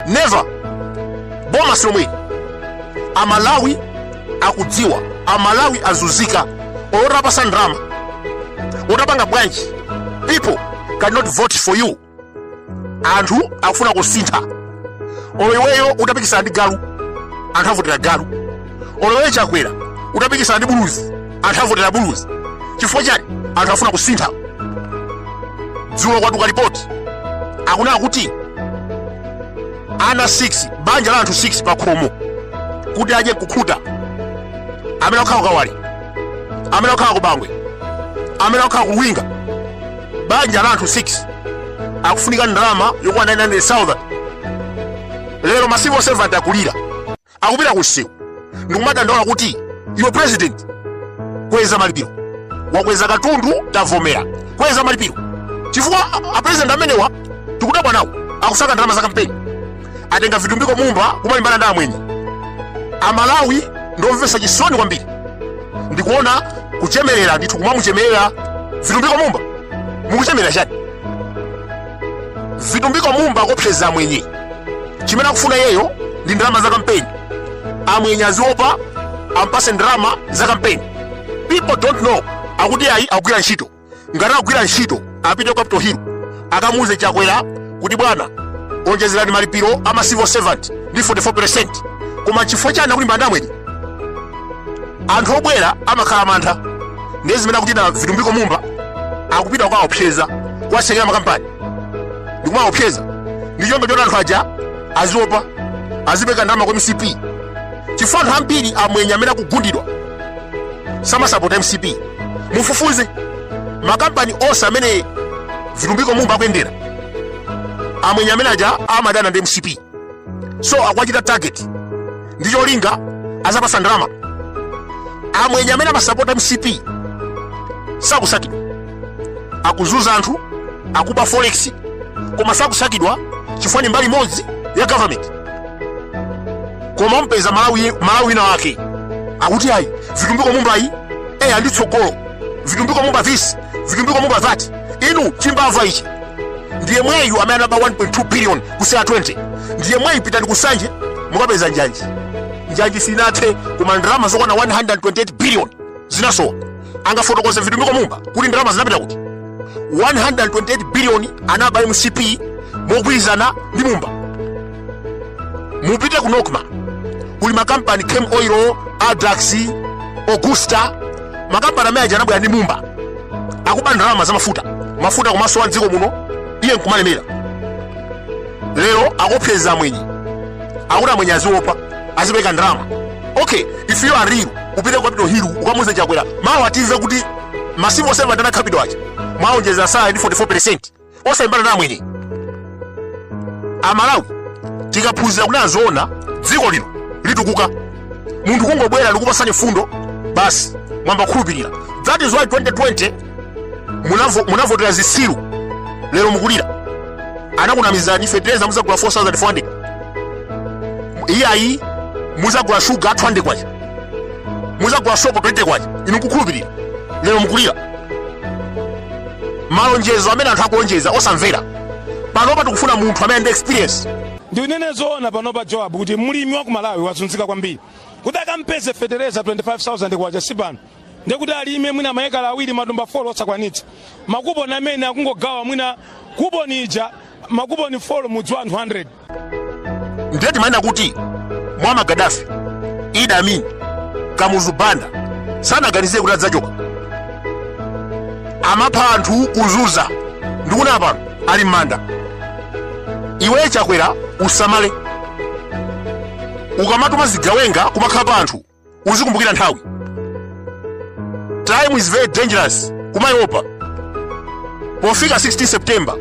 never boma ilomweli amalawi akudziwa amalawi azunzika olo utawapatsa ndalama utapanga bwanji people cannot vote for you anthu akufuna kusintha olo iweyo utapikisana ndi galu anthu avotera galu olo iwe chakwera utapikisana ndi buluzi anthu avotera buluzi chifukwa chani anthu afuna kusintha dzulo kwatuluka lipoti akunena kuti ana 6 banja la anthu 6 pa khomo kuti adye nkukhuta amene akukhala kukawale amene akukhala kubangwe amene akukhala ku luwinga banja la anthu 6 akufunika ndalama yokwana 900000 lero ma civil servant akulira akupita ku msewu ndikumadandaula kuti iwe president kweza malipiro wakweza katundu tavomera kweza malipiro chifukwa a- apresident amenewa tikudabwa nawo akusaka ndalama za kampeni atenga vitumbiko mumba kumalimbana ndi amwenye amalawi ndiomvetsa chisoni kwambiri ndikuona akuchemerera ndithu kumamuchemerera vitumbiko mumba mukuchemerera chani vitumbiko mumba akuopseza amwenye chimene akufuna iyeyo ndi ndalama za kampeni amwenye aziopa ampatse ndalama za kampeni people don't know akuti ayi akugwira ntchito ngati akugwira ntchito apite kwa capital hill akamuuze chakwera kuti bwana onjezerani malipiro a ma civil servant ndi 44 koma chifukwa chani akulimbana ndi amwenye anthu obwera amakhala mantha ndiye zimene akuchita vitumbiko mumba akupita kuwaopseza kuwatsekera makampani ndikumaopseza ndi cholinga choti anthu aja aziopa azipereka ndalama kwa mcp chifukwa anthu ambiri amwenye amene akugundidwa samasapota mcp mufufuze makampani onse amene vitumbiko mumba akuyendera amwenye amene aja amadana ndi mcp so akuwachita target ndi cholinga aziwapatsa ndalama amwenye amene amasapota mcp sakusakidwa akuzunza anthu akuba forex koma sakusakidwa chifukwa ni mbali imodzi ya government koma mupeza mmalawi wina wake akuti ayi vitumbiko mumbayi eya ndi tsogolo vitumbiko mumba this vitumbiko mumba that inu chimbava ichi ndi yemweyu amene anaba 1.2 billion ku cear 20 ndi yemweyu pitani ku nsanje mukapeza njanji njanji sinathe koma ndalama zokwana 128 billion zinasowa angafotokoze vitumbiko mumba kuti ndalama zinapita kuti 128 billion anaba mcp mogwirizana ndi mumba mupite ku NOCMA kuli makampani Camel Oil Addax Augusta makampani amene aja anabwera ndi mumba akuba ndalama za mafuta mafuta kumasowa mdziko muno iye nkumalemera lero akuopseza amwenye akuti amwenye aziopa azipeka ndalama okay if you are real upite ku Capital Hill ukamuze chakwera mawa atiza kuti ma civil servant ana Capital aja mwaonjeza salary ndi 44 osalimbana na amwenye amalawi tikaphunzira kunena zoona dziko lino litukuka munthu kungobwera nkukupatsani fundo basi mwamba khulupirira that is why 2020 munavo- munavotera zisiru lero mukulira anakunamizani fetereza muzagula 4400 iyayi muzagula shuga 200 kwacha muzagula sopo 20 kwacha inu nkukhulupirira lero mukulira malonjezo amene anthu akulonjeza osamvera panopa tikufuna munthu amene ali ndi experience ndinene zoona panopa joab kuti mlimi wa ku malawi wazunzika kwambiri kuti akampeze fetereza 25000 kwacha sipano ndekuti alime mwina maekala awiri matumba 4 osakwanitsa makuponi amene akungogawa mwina kuponi ija makuponi 4 mudzi wa anthu 100 ndiye timanena kuti Muammar Gaddafi Idi Amin kamuzu banda sanaganizire kuti adzachoka amapha anthu kuzuza ndikuna pano ali m'manda iwe chakwera usamale ukamatuma zigawenga kumakhapa anthu uzikumbukira nthawi time is very dangerous kumaiopa pofika 16 september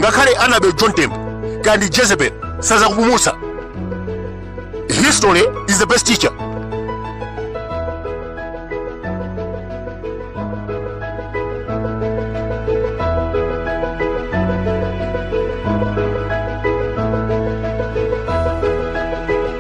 ngakhale anabel john tembo kandi jezebel sazakupulumutsa history is the best teacher